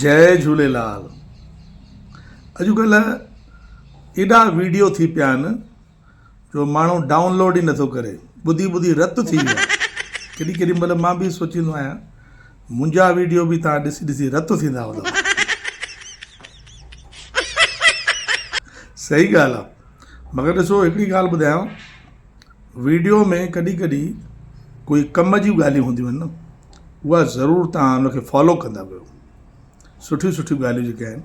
جئي جهوليلال اڄ ڪلهه ايڏا ويڊيو ٿي پيا آهن جو ماڻهو ڊائونلوڊ ئي نٿو ڪري ٻڌي ٻڌي رت ٿي ويا ڪيڏي ڪيڏي مهل مان به سوچيندو آهيان منهنجا ويڊيو به تان ڏسي ڏسي رت ٿيندا هوندا صحيح ڳالهه آهي مگر ڏسو هڪڙي ڳالهه ٻڌايان ويڊيو ۾ ڪڏهن ڪڏهن ڪوئي ڪم جون ڳالهيون هونديون آهن نه اها ضرور توهان ان کي فالو ڪندا ڪيو سٺيون سٺيون ڳالهيون جيڪي آهن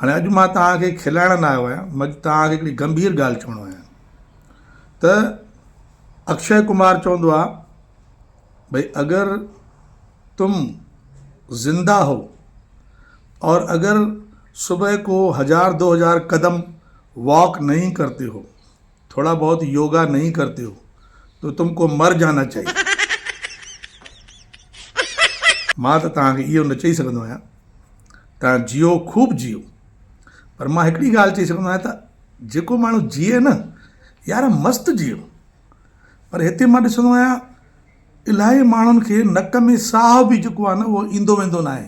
هاڻي اڄ مان توهانکي کلائڻ نه آيو آهيان مج توهانکي هڪڙي گمڀير ڳالهه چوڻو آهيان ته اڪشي ڪمار چوندو آهي ڀئي اگر تم زنده هو اور اگر صبح ڪو هزار دو هزار قدم واڪ نهي ڪرتي هو ٿوڙا بهت يوگا نهين ڪرتي هو تو تم ڪو مر جانا چاهيي. مان ته توهان کي اهو نه چئي سگهندو آهيان توهان جيئو خوب جيئو پر مان هڪڙي ڳالهه چئي سگهندو آهيان ته جيڪو ماڻهو جيئي نه يار مست جيئو پر هتي مان ڏسندو آهيان الاهي ماڻهن کي نڪ ۾ ساهه به جيڪو آهي نه اهو ايندو ويندو ناهي.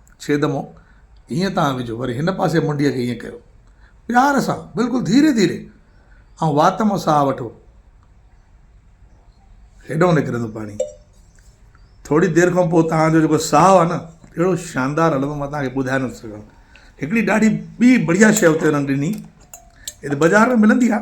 ڇيدمو، هيئن تان وجهو، وري هن پاسي منڊيء کي هيئن ڪيو. پيار سان، بلڪل ڌيري ڌيري، ۽ وات مان ساهه وٺو. هيڏانهن نڪرندو پاڻي. ٿوري دير کان پوء توهان جو جيڪو ساهه آهي نه، اهڙو شاندار هلندو، مان توهان کي ٻڌائي نٿو سگهان. هڪڙي ڏاڍي ٻي بڙيا شيء اتي هنن ڏني، هي ته بازار ۾ ملندي آهي.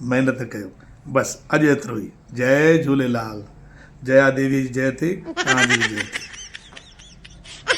محنت ڪيو بس اڄ ايترو ئي جئي جهوليلال جيا ديوي جي جئي ٿي توهان جي به جئي ٿي.